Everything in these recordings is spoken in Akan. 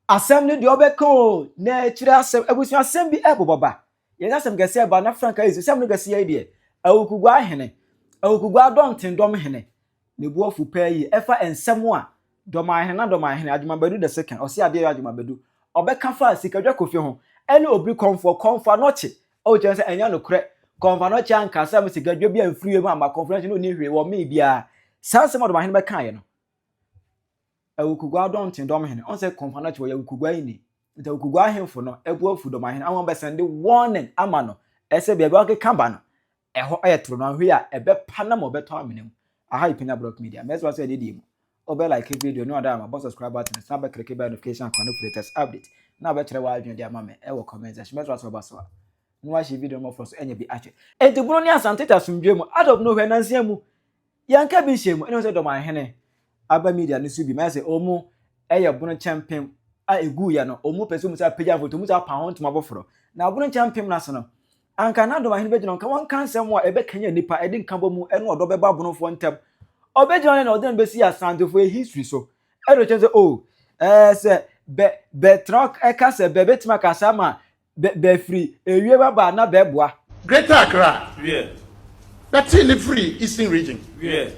Asɛm no deɛ ɔbɛka o na ɛkyerɛ asɛm abusua asɛm bi ɛbobɔ ba yɛn asɛm kɛseɛ ba na frank ayɛ sɛm no kɛseɛ yi deɛ awukugua ahene awukugua adɔnten dɔm hene ne buafu pɛɛ yi ɛfa nsɛm a dɔm ahene na dɔm ahene adwumabadu da se kan ɔse adeɛ yɛ adwumabadu ɔbɛka fa sikadwa kofi ho ɛne obiri kɔnfoɔ kɔnfoɔ anɔkye o kyerɛ sɛ ɛnyɛ nokorɛ kɔnfoɔ anɔkye anka sɛ mo sikadwa bi amfiri mu ama kɔnfoɔ anɔkye no ɔni hwee wɔ mee biara saa nsɛm a dɔm ahene bɛkaeɛ no Awukugua dɔnten dɔm hene, ɔn sɛ kɔnfa no tse hɔ, yɛ awukugua yi ni, ntsi awukugua ahemfo no bo efuw dɔm ahene ama wɔbɛsɛndze warning ama no sɛ beebi a ɔkekã ba no, hɔ yɛ toro, na ɔhwe a, bɛpa no ama ɔbɛtɔ amena mu. Aha yɛ Pina Brock Media, mɛserɛ wo sɛ ededie mu, wobɛ like video no, ɔdɔ a ma bɔ subscribe button no, san bɛkleke bell notification akwa no for latest update, na bɛkyerɛ w'adwene de ama me wɔ comment section, mɛserɛ wo sɛ woba so a, na woahye video no mmɔfrɔ so anya bi ahwɛ. Enti bunu ne Asante te asomdwoe mu, out of nowhere, nansia mu. Yɛnka bi nhyɛ mu, ɛne sɛ Dɔmanhene aba media no so bi ma sɛ ɔmu ɛyɛ bono kyɛmpem a ɛguu yɛ no, ɔmu pɛsɛ ɔmu sa apagya mfoto, ɔmu sa apa ho ntoma foforɔ. Na bono kyɛmpem no ase no, anka na Dɔmanhene bɛgyina hɔ nka wɔnka nsɛm a ɛbɛkanyan nnipa, ɛde nkabɔ mu ɛne ɔdɔ bɛba abonofoɔ ntam. Ɔbɛgyina hɔ na ɔde no bɛsi Asantefoɔ history so, ɛde kyerɛ sɛ oh, ɛɛ sɛ bɛ, bɛtra ɛka sɛ bɛbɛtumi aka saa ma bɛ bɛ firi ewie bɛ ba na bɛ boa. Greater Accra wiɛ bɛ tee ne firi Eastern Region wiɛ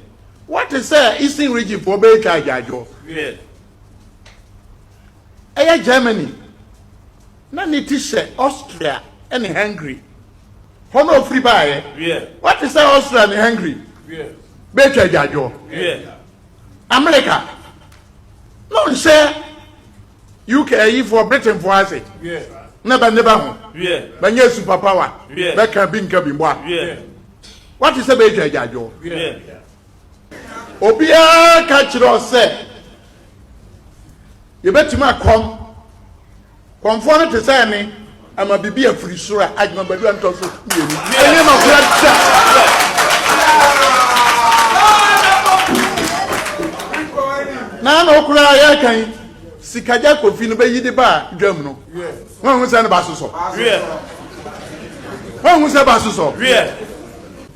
wɔ te sɛ Eastern Region foɔ bɛ twa agyaadwo wiɛ ɛyɛ Germany na ne ti hyɛ Austria ne Hungary hɔ na ɔfiri baeɛ wiɛ wɔ te sɛ Austria ne Hungary wiɛ bɛ twa agyaadwo wiɛ America na ɔnhyɛ UK ayifoɔ Britainfoɔ ase na bɛ ne bɛ ho bɛnyɛ super power bɛka bi nka bi mboa wate sɛ bɛɛtwa agyaadwoɔ obiara ka kyerɛ sɛ yɛbɛtumi akɔm kɔmfoɔ no te sɛ ne ama biribi afiri soro a adwuma badua ntɔ so mmienu ɛnyɛ ma kura da na na okura a yɛreka yi sikagya kofi no bɛyi de ba a dwam no wɔn ho sɛ no ba sosɔ wɔn ho sɛ ba sosɔ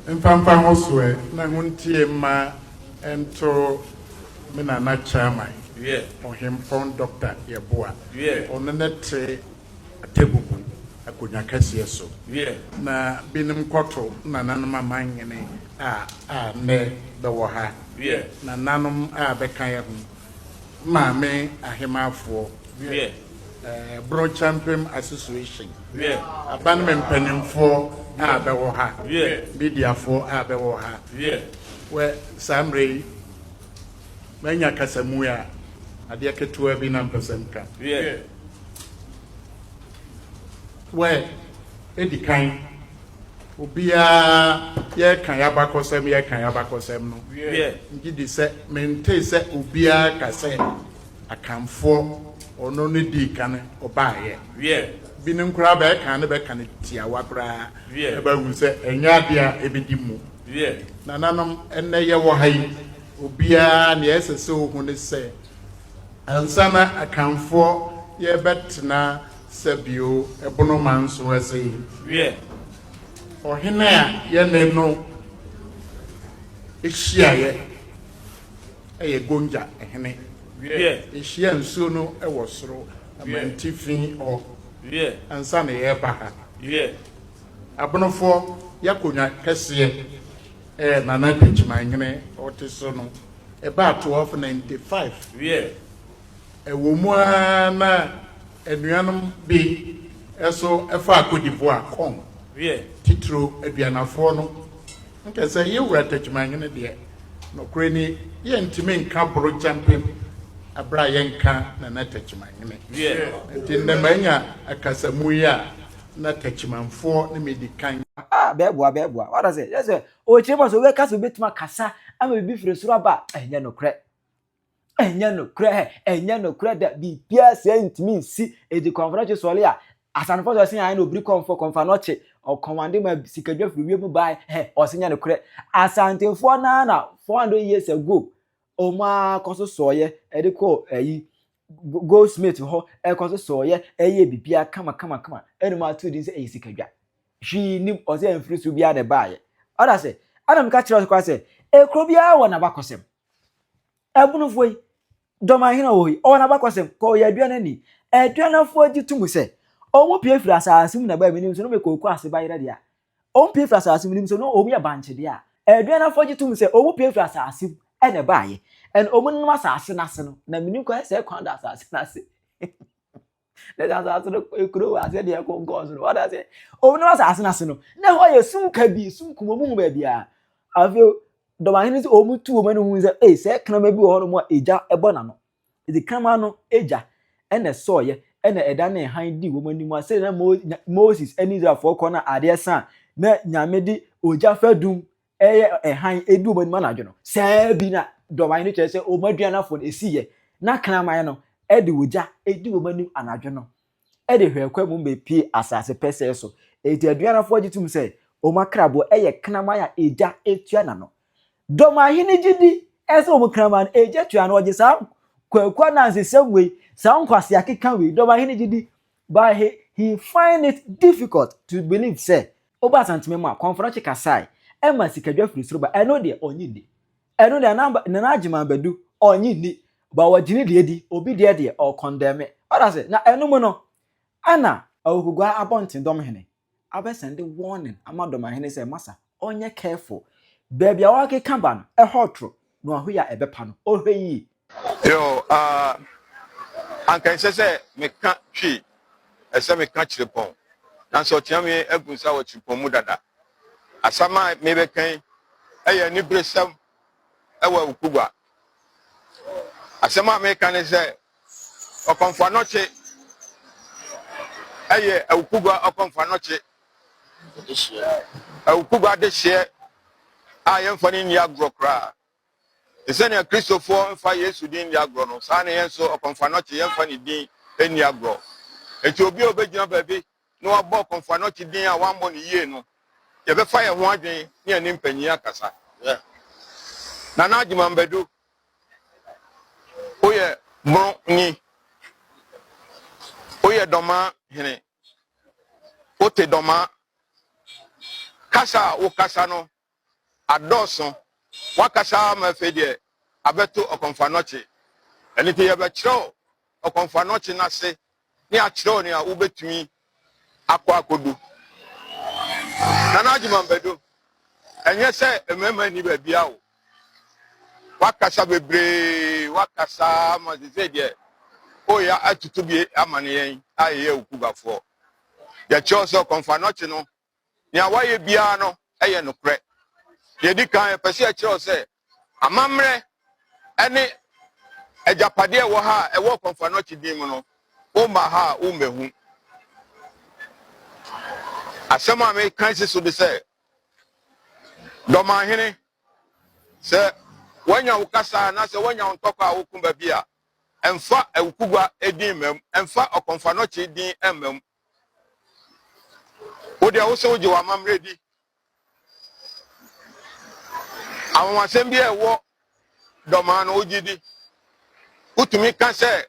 mfamfa ho soɛ na ho ntie mma ɛnto me nana chairman ɔhempɔn dɔkta yɛboa ɔno ne te atɛbubu akonnwa kɛseɛ so. Wiɛ, na binom kɔto nananom aman nwene a a nnɛ bɛwɔ ha. Wiɛ, nananom a bɛka yɛ ho Maame Ahemaafoɔ. Wiɛ, Bro Champem Association. Wiɛ, Abanem mpanimfoɔ a bɛwɔ ha. Wiɛ, mediafoɔ a bɛwɔ ha. Wiɛ, wɛ saa mmerɛ yi manya kasamue a adeɛ ketewa bi na mpɛ sɛ mka. Wiɛ, Wɔadi kan, obiara, yɛreka yɛn abakɔsɛm, yɛreka yɛn abakɔsɛm no. Megye di sɛ mentee sɛ obiara ka sɛ Akanfoɔ, ɔno ne dii kan ɔbaeɛ. Binom koraa bɛka ne bɛka no tiawa koraa, na bɛahu sɛ ɛnyɛ adeɛ a ɛbɛdi mu. Nananom, ɛnnɛ yɛwɔ ha yi, obiara, nea ɛsɛ sɛ ɔhu ne sɛ, Ansa na Akanfoɔ yɛ bɛ tena sɛ bio ɛbono ma nso ɛse wiɛ ɔhene a yɛ ne no hyiaeɛ ɛyɛ Gonja hene wiɛ ɛhyia nsuo no ɛwɔ soro amantifi hɔ wiɛ ansa na yɛ ba ha wiɛ abonofoɔ yɛ akonwa kɛseɛ. Ɛɛ Nana Kwetuma hene ɔte so no ɛbaa twelve ninety five wiɛ ɛwɔ mu ara na anuanom bi ɛso ɛfaa Kodivua kɔn wiɛ titiro aduanafoɔ no nkɛsɛ yɛwura Tekyuma hene deɛ nɔkorɛ ni yɛntumi nka boro kyampem ɛberɛ a yɛnka Nana Tekyuma hene wiɛ ɛti ndɛ manya akasamu yi a na Techimanfoɔ ne me di kan. Ah, bɛboa, bɛboa. Wate aseɛ? Kyerɛ sɛ, ɔrekyerɛ mu a sɛ wobɛka sɛ wobɛtumi akasa ama biribi firi soro aba a, ɛnyɛ nokorɛ. Ɛnyɛ nokorɛ, hɛ, ɛnyɛ nokorɛ da. Biribiara saa ntumi nsi. Enti kɔmfɔnɔkye sɔɔle a, asanfoɔ sɛ ɔse ae na ɔbiri kɔmfɔ, kɔmfanɔkye, ɔkɔmande ma sikadwa firi wiem bae, hɛ, ɔse nyɛ nokorɛ. Asantefoɔ no ara na 400 years ago, Wɔn ara kɔ so sɔeɛ ɛde kɔ ayi goldsmith hɔ ɛkɔ so sɔeɛ ɛyɛ biribiara kama kama kama ɛna wɔn ato din sɛ ɛyɛ sikadwa hwii nim ɔsɛ mfiri so biara na ɛbaeɛ ɔda sɛ ɛna meka kyerɛ ɔsɛ koraa sɛ ekuro biara wɔ n'abakɔsɛm ɛbunufoɔ yi dɔmanhene wɔ hɔ yi ɔwɔ n'abakɔsɛm kɔ ɔyɛ aduane ani aduanafoɔ gye to mu sɛ wɔn pie firi asaase mu na baa mi nim so no mekɔ oku ase bayerɛ deɛ Ommmpue mfiri asaase mu, nim sɛ na wɔyɛ bankye deɛ a, aduanafɔɔ gye tom sɛ wɔn pue firi asaase mu na ɛbaeɛ, and wɔn nom asaase no ase no, na menim kwan sɛ kwan da asaase no ase, ne sɛ asaase no kuro wɔ aseɛ deɛ ɛko nkɔɔ so no, wate aseɛ, wɔn nom asaase no ase no, na ɛhɔ yɛ sum kabii, sum kum, wɔn nhu baabiara. Afei, dɔmahene sɛ wɔn tu wɔn ani hu sɛ, ei, sɛ kraman bi wɔ hɔ nom a egya bɔ n'ano, Adzikama no, egya na ɛsɔɔeɛ na ɛdanee hann dii wɔn anim, a sɛdeɛ na Moses ne Israelfoɔ rekɔ no a adeɛ sa a, na Nyame de ogya fadum yɛ hann di wɔn anim anadwo no. Saa bi na dɔwae no kyerɛ sɛ wɔn aduanafoɔ no, ɛsiiɛ. Na kraman no de ogya di wɔn anim anadwo no. de hwɛɛ kwa mu bepuee asase pɛsɛɛ so. Enti aduanafo gye tom sɛ wɔn akrabo yɛ kraman a egya tua n'ano. Dɔm ahene gye di sɛ wɔn kraman egya tua ano. Wɔgye saa kwaku anansesɛm wei, saa nkwasea keka wei, dɔm ahene gye di, but he, he find it difficult to believe sɛ, Wobaa Asanteman mu a, Kɔmfɔnɔkye kasae ma sikadwa firi soro bae. Ɛno deɛ, ɔnnye nni. Ɛno deɛ na Nana Agyeman Badu ɔnye nni but wɔgye ne deɛ di, obi deɛ deɛ ɔkɔndɛme. Wate ase? Na ɛno mu no ɛna Awukuguaa Abɔnten Dɔmhene abɛsɛnde warning ama Dɔmahene sɛ masa ɔnyɛ careful, baabi a ɔrekeka ba no ɛhɔ toro na wahu yɛ a ɛbɛpa no, ɔhwɛ yie. Yo, ah, anka ɛnsɛ sɛ meka twi, ɛsɛ meka kyerepɔn. Nanso ɔteame agu nsa wɔ kyerepɔn mu dada. Asɛm a merebɛka yi yɛ aniberesɛm wɔ Awukugua. Asɛm a mereka ne sɛ, Ɔkɔmfo Anokye yɛ Awukugua Ɔkɔmfo Anokye. Awukugua adehyeɛ a yɛmfa no nni agorɔ koraa. Te sɛ nea Kristofo mfa Yesu din nni agorɔ no, saa ara na yɛn nso, ɔkɔmfoanɔkye, yɛmfa ne din nni agorɔ. Enti obi a obegyina baabi na wabɔ ɔkɔmfoanɔkye din a wammɔ no yiye no, yɛbɛfa yɛn ho adwene ne yɛne mpanyin akasa. Nana Agyemang Badu, Woyɛ Borɔnyi, woyɛ Dɔmaa hene, wote Dɔmaa kasa a wokasa no adɔɔso. Woakasa ara ma afei deɛ abɛto ɔkɔmfoanɔkye. Ɛno nti yɛbɛkyerɛw ɔkɔmfoanɔkye no ase na yɛakyerɛw nea wubetumi akɔ akodu. Nana Agyemang Badu, ɛnyɛ sɛ mmarima nni baabiara o. Woakasa bebree, woakasa ara ma seesei deɛ woreyɛ atutubie amane yɛn a yɛyɛ wo kubafoɔ. Yɛkyerɛw sɛ ɔkɔmfoanɔkye no Nea wayɛ biara no yɛ nokorɛ. Deɛ ɛdi kan, yɛpɛ sɛ yɛkyerɛ wo sɛ amammerɛ ne agyapadeɛ a ɛwɔ ha a ɛwɔ Ɔkwamfo Anokye din mu no, womma ha a wommɛhu. Asɛm a meka si so de sɛ, Dɔmanhene, sɛ woanya wo kasa anaasɛ woanya wo ntɔkwa a woko baabi a, ɛmfa Awukugua din mma mu, ɛmfa Ɔkwamfo Anokye din mma mu. Wo deɛ wo se wogye w'amammerɛ di. Anwanwasɛm bi a ɛwɔ dɔmaa no wogye di. Wotumi ka sɛ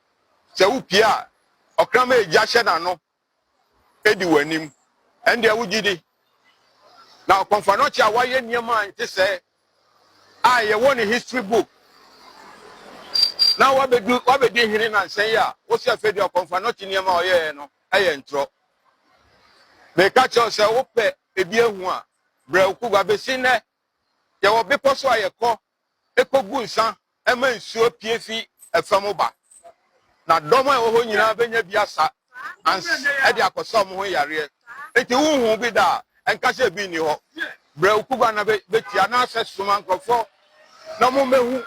sɛ wopie a ɔkraman egya hyɛ n'ano di w'anim. Ɛndeɛ wogye di. Na ɔkɔmfanɔkye a wayɛ nneɛma a ɛnte sɛɛ a yɛwɔ ne history book na wabedu wabedi hene nansan yi a wosi afei deɛ ɔkɔmfa nɔte nneɛma a ɔyɛɛ no ɛyɛ ntorɔ meka kyerɛw sɛ wopɛ ebi ehu a brɛ wo kugu abesi nnɛ yɛwɔ bepɔ so a yɛkɔ ekogu nsa Ɛma nsuo pue fi fam ba, na dɔm a ɛwɔ hɔ nyinaa bɛnya bi asa ans de akɔsa wɔn ho yareɛ. Enti wonhuu bi da a, ɛnka sɛ ebi nni hɔ. Brɛ wo kuruwa na bɛtie, anaasɛ soma nkurɔfoɔ na wɔmmɛhu.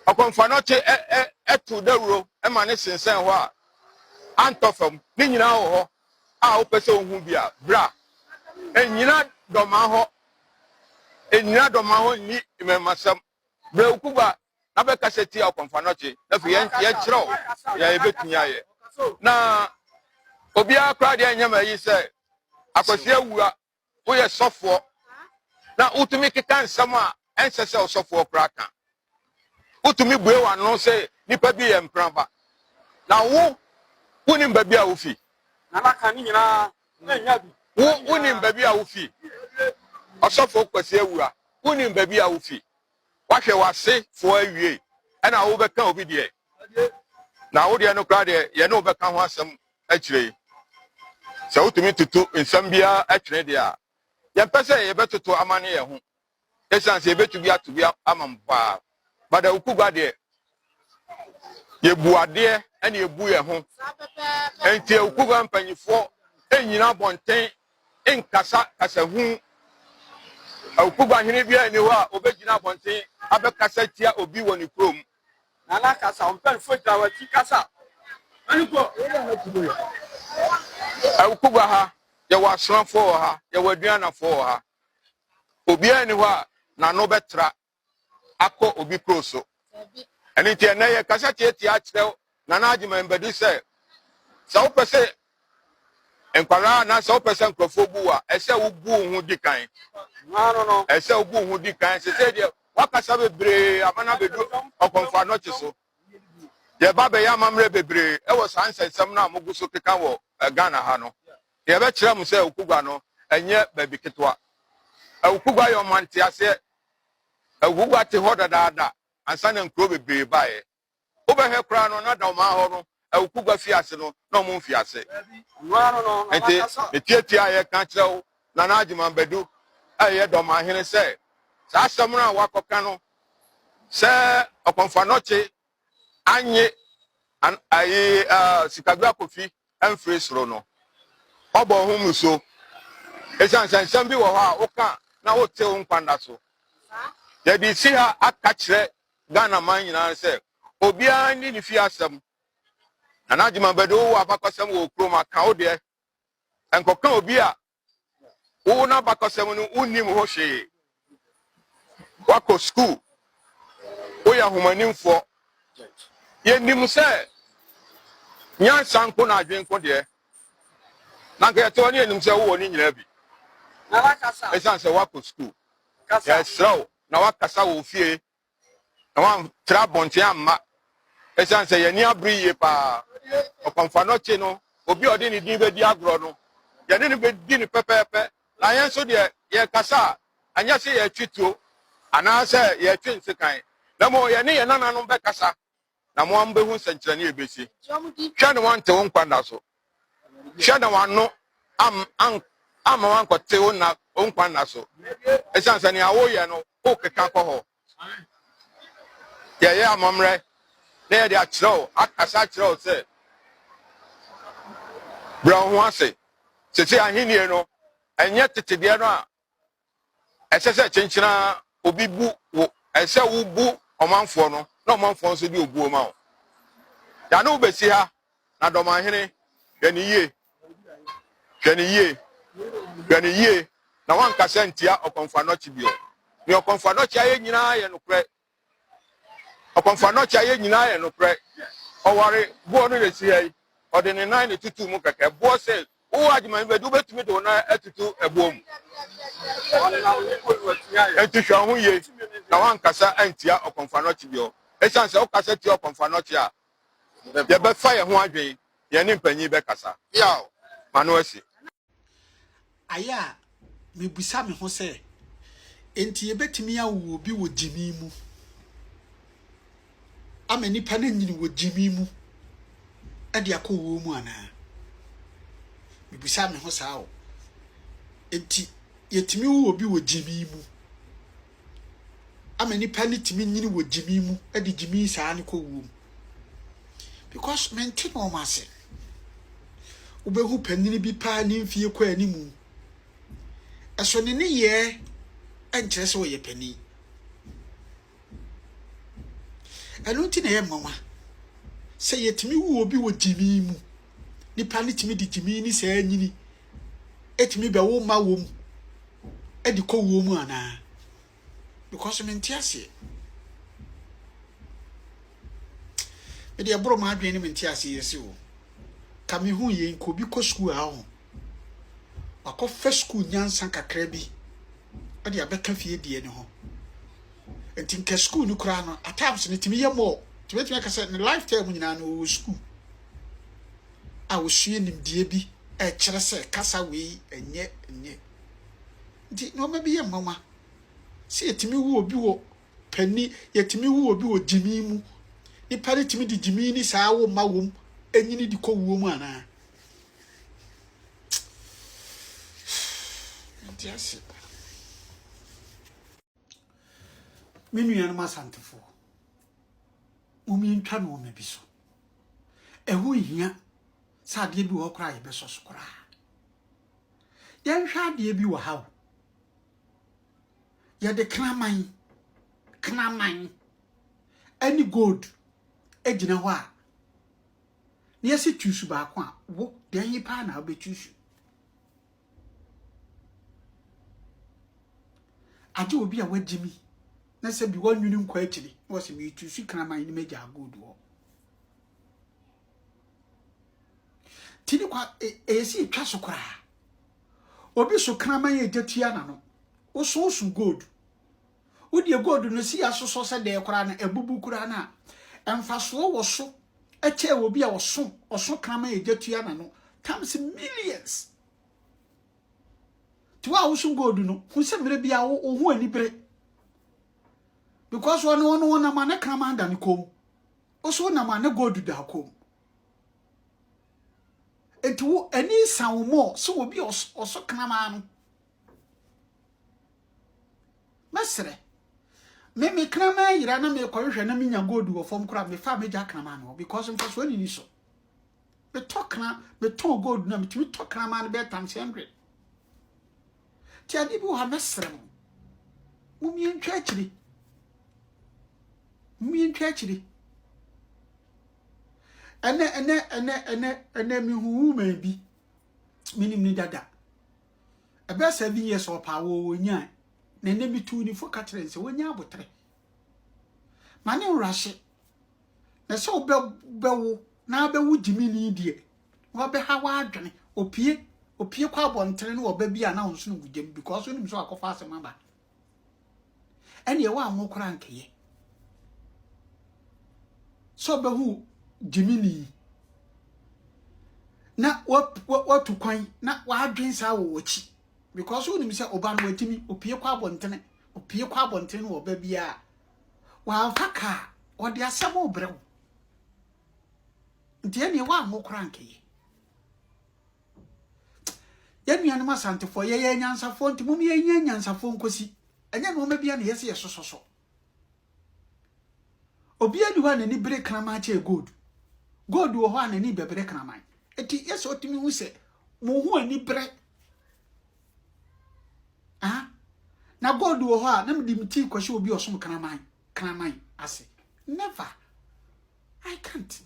Ɔkɔmfanɔkye to dawuro ma no sensɛn hɔ a, antɔ fam. Ne nyinaa wɔ hɔ a wopɛ sɛ wohu bi a, bra. Nnyina dɔmmaa hɔ, nnyina dɔmmaa hɔ nni mmarimasɛm. Brɛ wo kuruwa na bɛkasa tia ɔkɔmfanɔkye, na afei yɛnkyerɛ wo nea yɛbɛtumi ayɛ. Na obiara koraa deɛ ɛnyɛ ma ayi sɛ Akwasi Awuwa woyɛ sɔfoɔ na wotumi keka nsɛm a ɛnsɛ sɛ ɔsɔfoɔ koraa ka. Wotumi bue w'ano sɛ nipa bi yɛ mpraba. Na wo wonim baabi a wofi. Na naka ne nyinaa wo wonim baabi a wofi ɔsɔfo kwasi awu a wonim baabi a wofi wahwɛ wase foɔ awie ɛna wobɛka obi deɛ na wo deɛ no koraa deɛ yɛne wobɛka ho asɛm akyire yi sɛ wotumi toto nsɛm biara atwene deɛ a yɛmpɛ sɛ yɛbɛtoto amane yɛn ho Ɛsiane sɛ yɛbɛtu bi ato bi ama mo paa. But Awuku Gua deɛ, yɛbu adeɛ ɛna yɛbu yɛn ho. Ɛnti Awuku Gua mpanyifoɔ ɛnyina abɔnten nkasa kasa hu. Awuku Gua hene biara ni hɔ a ɔbɛgyina abɔnten abɛkasa tia obi wɔ ne kurom. Nana kasa, ɔmpanyinfoɔ gyina wakyi kasa. Awuku Gua ha, yɛwɔ asomafoɔ wɔ ha, yɛwɔ aduanafoɔ wɔ ha. Obiara nni hɔ a n'ano bɛtra akɔ obi kuro so. Ɛno nti ɛnɛ yɛ kasa tietia akyerɛ Nana Agyeman Badu sɛ sɛ wopɛ sɛ nkwadaa anaa sɛ wopɛ sɛ nkurɔfoɔ bu a ɛsɛ wobu wo ho di kan ɛsɛ wobu wo ho di kan sɛ sɛ deɛ wakasa bebree ama no abɛdu ɔkɔmfo anɔkye so yɛba bɛyɛ amammerɛ bebree ɛwɔ saa nsɛnsɛm no a mogu so keka wɔ eh, ghana ha no Deɛ ɛbɛkyerɛ mo sɛ Ukugwa no nyɛ baabi ketewa. Ukugwa yɛ ɔman teaseɛ. Ukugwa te hɔ dadaada ansa na nkuro bebree baeɛ. Wobɛhwɛ koraa no, na da ɔman hɔ no, Ukugwa fie ase no, na wɔmfii ase. Enti metiatia a yɛka kyerɛ wo, Nana Agyeman Badu a ɛyɛ da ɔmanhene sɛ, saa asɛm no a woakɔka no sɛ Ɔkɔmfannɔkye annye an ayi a Sikadwa Kofi amfiri soro no. Ɔbɔɔ ho mmusuo ɛsiane sɛ nsɛm bi wɔ hɔ a woka na wote wo nkwa nna so. Yɛde resi ha aka kyerɛ Ghana man nyinaa sɛ obiara nni ne fie asɛm. Nana Gyimah Badu wowɔ abakɔsɛm wɔ Okurom a, ka wo deɛ. Nkɔka obi a Wo n'abakɔsɛm no wonnim ho hwee. Woakɔ sukuu. Woyɛ ahomanimfoɔ. Yɛnim sɛ nyansa nko na adwene nko deɛ, na anka yɛte hɔ ne yɛnim sɛ wowɔ ne nyinaa bi. Ɛsiane sɛ woakɔ sukuu, yɛsrɛ wo na woakasa wɔ ofie na wɔantra abɔnten amma ɛsiane sɛ yɛn ani abere yie paa. Ɔkwamfano akyi no, obi a ɔde ne din bɛdi agorɔ no, yɛne no bɛdi no pɛpɛɛpɛ, na yɛn nso deɛ, yɛkasa a, ɛnyɛ sɛ yɛretwe tuo anaasɛ yɛretwe nsekan, na mmom yɛne yɛn nananom bɛkasa na mo ara mobehu nsɛnkyerɛnne a ebesi. Hwɛ na wɔante wo nkwa nna so. Hwɛ na w'ano amma woankɔte wo nna wo nkwa nna so. Esiane sɛ nea woyɛ no wokeka kɔ hɔ. Yɛyɛ amammerɛ na yɛde akyerɛ wo, akasa akyerɛ wo sɛ, brɛ wo ho ase. Sese ahenni no, ɛnyɛ tete deɛ no a Ɛsɛ sɛ kyenkyen ara obi bu wo. Ɛsɛ sɛ wobu ɔmanfoɔ no na ɔmanfoɔ nso de obuo ma wo. Da ne wobɛsi ha na dɔmanhene hwɛ no yie, hwɛ no yie, hwɛ no yie na woankasa ntia ɔkɔmfoanɔkye bio. Nea ɔkɔmfoanɔkye ayɛ nyinaa yɛ nokorɛ. Ɔkɔmfaa no ɔkyea yɛ nyinaa yɛ nokorɛ ɔware boɔ no na sii ai ɔde ne nan na tutuu mu kɛkɛ boɔ se wo wɔ agyeman bɛ de wobɛtumi de wo nan atutu ɛboɔ mu enti hwɛ wo ho yie na woankasa antia ɔkɔmfaa no ɔkye biɔ ɛsiane sɛ wokasa tia ɔkɔmfaa no ɔkye a yɛbɛfa yɛ ho adwen yɛne mpanyin bɛkasa ma no asi. Ayɛ a mibisa me ho sɛ, 'Enti yebetumi awo obi wɔ gyimi mu? Ama nnipa no anyin wɔ gyimi mu de akɔ owuo mu anaa? Mibisa me ho saa o. Enti yetumi wo obi wɔ gyimi mu? ama nipa no tumi nyini wɔ gyimi mu de gyimi saa no kɔ wuo mu because mente na wɔn ase wobɛhu panyin bi paa ne mfie kɔ anim ɛso ne ne yɛ ɛnkyerɛ sɛ ɔyɛ panyin ɛno nti na ɛyɛ mmanwa sɛ yɛtumi wu obi wɔ gyimi mu nipa no tumi de gyimi ne saa nyini etumi bɛwo mma wom de kɔ wuo mu anaa because mente aseɛ mede ɛboro m'adwene ne mente aseɛ yɛsi o ka mehu yei nka obi kɔ sukuu a ho wakɔfa sukuu nyansa kakra bi de abɛka fie deɛ ne ho nti nka sukuu no koraa no at times no tumi yɛ mɔɔ tumi tumi aka sɛ ne lifetime nyinaa no ɔwɔ sukuu a wɔsua nimdeɛ bi rekyerɛ sɛ kasa wei nyɛ nyɛ. Nti nnoɔma bi yɛ nwanwa sɛ yɛtumi wu obi wɔ panni, yɛtumi wu obi wɔ gyimii mu. Nnipa no tumi de gyimii ne saa awo mma wom nyini de kɔ wuo mu anaa? Nti ase. Me nuanom Asantefoɔ, momentwa nnoɔma bi so. Ɛho nhia sɛ adeɛ bi wɔ hɔ koraa yɛbɛsɔ so koraa. Yɛnhwɛ adeɛ bi wɔ ha o. Yɛde kraman, kraman ɛne gold gyina hɔ a, na yɛsɛ tuusu baako a, wo deɛ he paa na wobɛtuusu. Agye obi a wagye mi na sɛ bi wannwene nkɔ akyiri na wɔsɛ metu su kraman ne magya agold hɔ. Ti ne kwa ɛyɛ si twa so koraa. Obi so kraman yɛ gya tua n'ano. Woso so gold. Wodeɛ gold no si asosɔ sɛ dɛɛ koraa no abubu koraa no a, mfasoɔ wɔ so kyɛɛ obi a ɔso ɔso kraman a egya tua n'ano times millions. Nti wo a woso gold no, hu sɛ mmerɛ biara wo wo ho ani bere because ɔno ɔno ɔnam a ne kraman da ne kɔn mu. Woso wonam a ne gold da kɔn mu. Nti wo ani nsa wo mɔ sɛ obi a ɔso ɔso kraman no Mɛsrɛ. Me me kraman yera na mekɔhwehwɛ na menya gold wɔ fam koraa mefa megya kraman no hɔ because mfasoɔ nini so. Metɔ kra metɔn gold na metumi tɔ kraman no bɛyɛ times hundred. Ti ade bi wɔ ha mɛsrɛ mo. Mumie ntwa akyiri. Mumie ntwa akyiri. Ɛnɛ ɛnɛ ɛnɛ ɛnɛ ɛnɛ mehu woman bi menim ne dada. ɛbɛyɛ seven years ɔpa awɔ wɔnyae na ɛnɛ metuu ne fo ka kyerɛ sɛ wɔnya abotere ma ne nworahye na sɛ wobɛwo na abɛwo gyimini deɛ wabɛha w'adwene opie opie kɔ abɔntene ne ɔba bi a na ɔnsono mu gyam because wonim sɛ wakɔfa asɛm aba ɛneɛ woanwo koraa nkɛyɛ sɛ ɔbɛhu gyimini na watu kwan na wadwen saa wɔ wɔkyi because wonim sɛ ɔba no watumi opie kɔ abɔntene opie kɔ abɔntene no ɔba biara wamfa kaa ɔde asɛm rebrɛ wo nti ɛneɛ woanwo koraa nkɛyɛ Yɛn nuanom Asantefoɔ, yɛyɛ anyansafoɔ nti mom yɛnyɛ anyansafoɔ nkosi. Ɛnyɛ nnoɔma bia na ɛyɛ sɛ yɛsosɔ so. Obiara ni hɔ a n'ani bere kraman kyɛɛ gold. Gold wɔ hɔ a n'ani bɛbrɛ kraman. Eti yɛ sɛ ɔtumi hu sɛ mo ho ani brɛ. Ah, na gold wɔ hɔ a na mede me ti kɔhyɛ obi ɔsom kraman kraman ase. Never. I can't.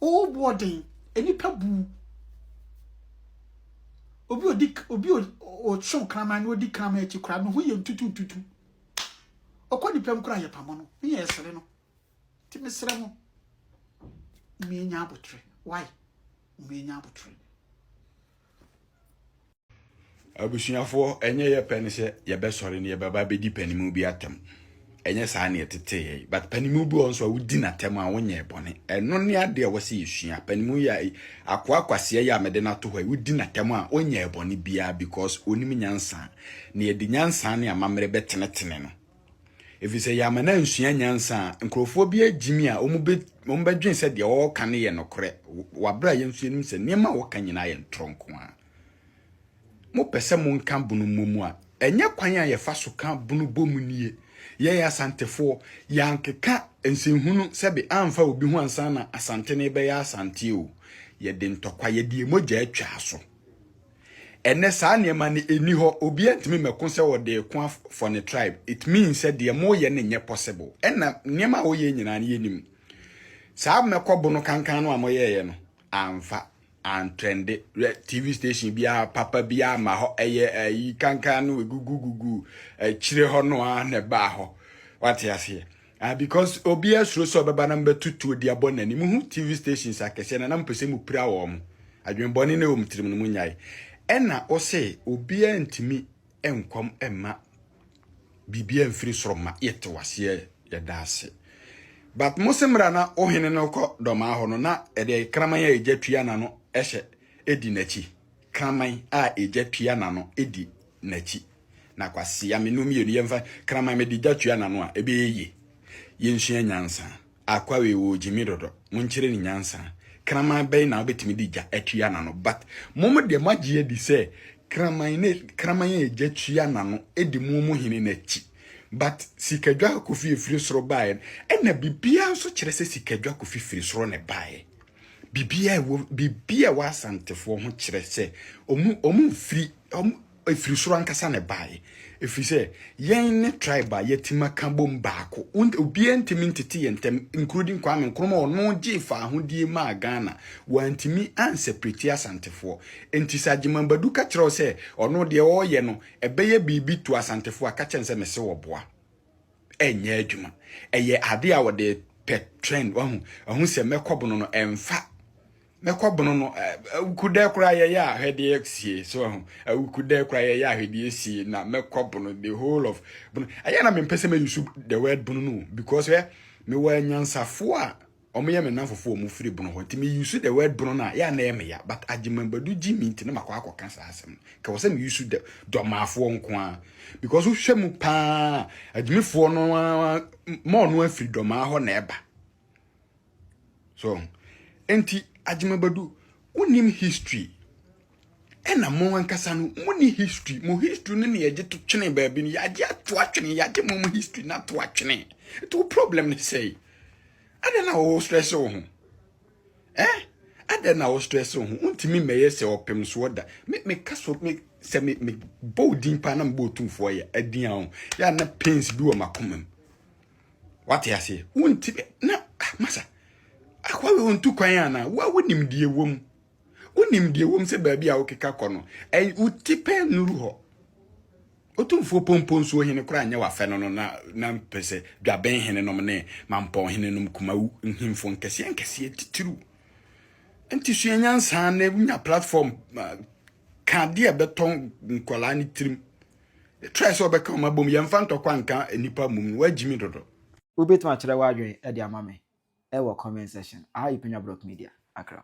Oh boy den. Enipa bu. Obi odi obi o so kraman no odi kraman akyi kra no ho ye ntutu ntutu. Okɔ ni pem kra ye pamo no. Me ye esere no. Ti me sere mo. Me nya abotre. Why? Me nya abotre. Abusuafoɔ, ɛnyɛ yɛ pɛ ne sɛ yɛbɛsɔre ne yɛbɛba bɛdi panimu bi atɛm. Ɛnyɛ saa ne ɛtetee yɛn. But panimu bi wɔ nso a wodi n'atɛm a wonyɛɛ bɔne. Ɛno ne adeɛ a wɔsɛ yɛsua. Panimu yɛ akoa kwasia yi a mede no ato hɔ yi, wodi n'atɛm a onyɛɛ bɔne biara because onim nyansa. Na yɛde nyansa ne amammerɛ bɛtenetene no. Ɛfiri sɛ yɛama no ansua nyansa a, nkurɔfoɔ bi agyimi a wɔbɛdwene sɛ deɛ wɔreka no yɛ nokorɛ. Wɔ aberɛ a yɛn nso yɛnim sɛ nneɛma a wɔka nyinaa yɛ ntorɔ nko ara. Mopɛ sɛ monka bunu mmɔ mu a, ɛnyɛ kwan a yɛfa so ka bunu bɔ mu nie. Yɛn Asantefoɔ, yɛankeka nsɛnhunu sɛbe amfa obi ho ansa na Asante no rebɛyɛ Asante o. Yɛde ntɔkwa, yɛde yɛn mogya atwa so. Ɛnnɛ saa nneɛma no ɛnni hɔ, obiara ntumi mmɛko sɛ ɔde reko for ne tribe. It means sɛ deɛ moreyɛ no nyɛ possible. Ɛnna nneɛma a woyɛ nyinaa no yɛnim. Saa mɛkɔ bunu kankan no a moyɛeɛ no, amfa. Antrɛnde, hwɛ TV station biara papa bi ama hɔ ɛyɛ ayi kankan no egugu gugu akyire hɔ no ara na ɛbaa hɔ. Wate aseɛ? Ah, because obi asuro sɛ ɔbɛba na mbɛtu tuo de abɔ n'ani. Muhu TV stations akɛseɛ na na mpɛ sɛ mu pira wɔn. Adwenbɔne na ɛwɔ mu tirim no mu nyae. Ɛna ɔsɛ obiara ntumi nkɔm mma. biribiara mfiri soro mma yɛte waseɛ yɛda ase but mo se mmra na ohene no kɔ dɔmaa hɔ no na ɛdeɛ kraman a ɛgya tua n'ano ɛhyɛ ɛdi n'akyi kraman a ɛgya tua n'ano ɛdi n'akyi na kwasea me no mmienu yɛmfa kraman mede gya tua n'ano a ɛbɛyɛ yie yɛnsua nyansa Akwa wei wɔ gyimi dodo mo nkyerɛ ne nyansa kraman bɛn na wobɛtumi de gya atua nano but mo mo deɛ moagye adi sɛ kraman ne kraman a gya tua nano ɛdi mo mo hene no akyi but sikadwa kofi ɛfiri soro baeɛ no ɛna biribiara nso kyerɛ sɛ sikadwa kofi firi soro ne baeɛ biribiara ɛwɔ biribiara ɛwɔ asantefoɔ ho kyerɛ sɛ ɔmo ɔmo mfiri ɔmo Ɛfiri soro ankasa na ɛbaeɛ, ɛfiri sɛ yɛn ne tribe a yɛatim aka bom baako. Wont, obiara ntumi ntete yɛn ntam, including Kwame Nkrumah a ɔno gyee faahodie maa Ghana. Wantumi anseparate Asantefoɔ. Enti sɛ Agyeman Badu ka kyerɛ wo sɛ ɔno deɛ ɔreyɛ no ɛbɛyɛ biribi to Asantefoɔ a, ka kyerɛ no sɛ mese ɔboa. Ɛnyɛ adwuma. Ɛyɛ adeɛ a ɔde pɛ trend, wahu, ahu sɛ mɛkɔ bono no, ɛmfa. na kɔ bono no awukudɛ koraa yɛyɛ ahwɛdeɛ sie so ahu awukudɛ koraa yɛyɛ ahwɛdeɛ sie na mɛkɔ bono the whole of bono ɛyɛ na mempɛ sɛ mɛyusu the word bono no because ɛ mewɔ anyansafoɔ a wɔyɛ me nafofoɔ wɔn firi bono hɔ nti meyusu the word bono no a yɛ a na ɛyɛ meya but agyemabadu gye me nti na makɔ akɔka saa asɛm no kɛwɔ sɛ meyusu the dɔmaafoɔ nko a because wohwɛ mu paa agyemefoɔ no mɔɔ no afiri dɔmaa hɔ na ɛba so enti agyemabadu wonim history ɛna mo ankasa no mo ni history mo history no na yɛgye to twene baabi no yɛagye ato atwene yɛagye mo mo history no ato atwene ɛti wo problem no sɛe adɛn na wɔwɔ stress wo ho eh adɛn na wɔwɔ stress wo ho wontumi mmɛyɛ sɛ ɔpem soɔ da me meka so me sɛ me me bɔ odin paa na mebɔ otumfoɔ yɛ adin a ho yɛ na pains bi wɔ makoma mu Wate aseɛ? Wonti na ah, masa akoa wei ɔntu kwan anaa? Wo a wonim deɛ ɛwɔ mu, wonim deɛ ɛwɔ mu sɛ baabi a wokeka kɔ no, ɛn woti pɛ nnuru hɔ. Otumfoɔ pompo nsuo hene koraa nyɛ wafɛ no no na na mpɛ sɛ dwaben hene nom ne mampɔn hene nom kumawu nhemfo nkɛseɛ nkɛseɛ titiriw. Nti sua nyansa na wonya platform ah, ka adeɛ a ɛbɛtɔ nkwadaa no tirim. Try sɛ ɔbɛka wɔn abom. Yɛmfa ntɔkwa nka nnipa mmom no. Woagyimi dodo. Wobɛtumi akyerɛ w'adwene de ama me wɔ comment section. Aha yɛ Penya Brock Media, Accra.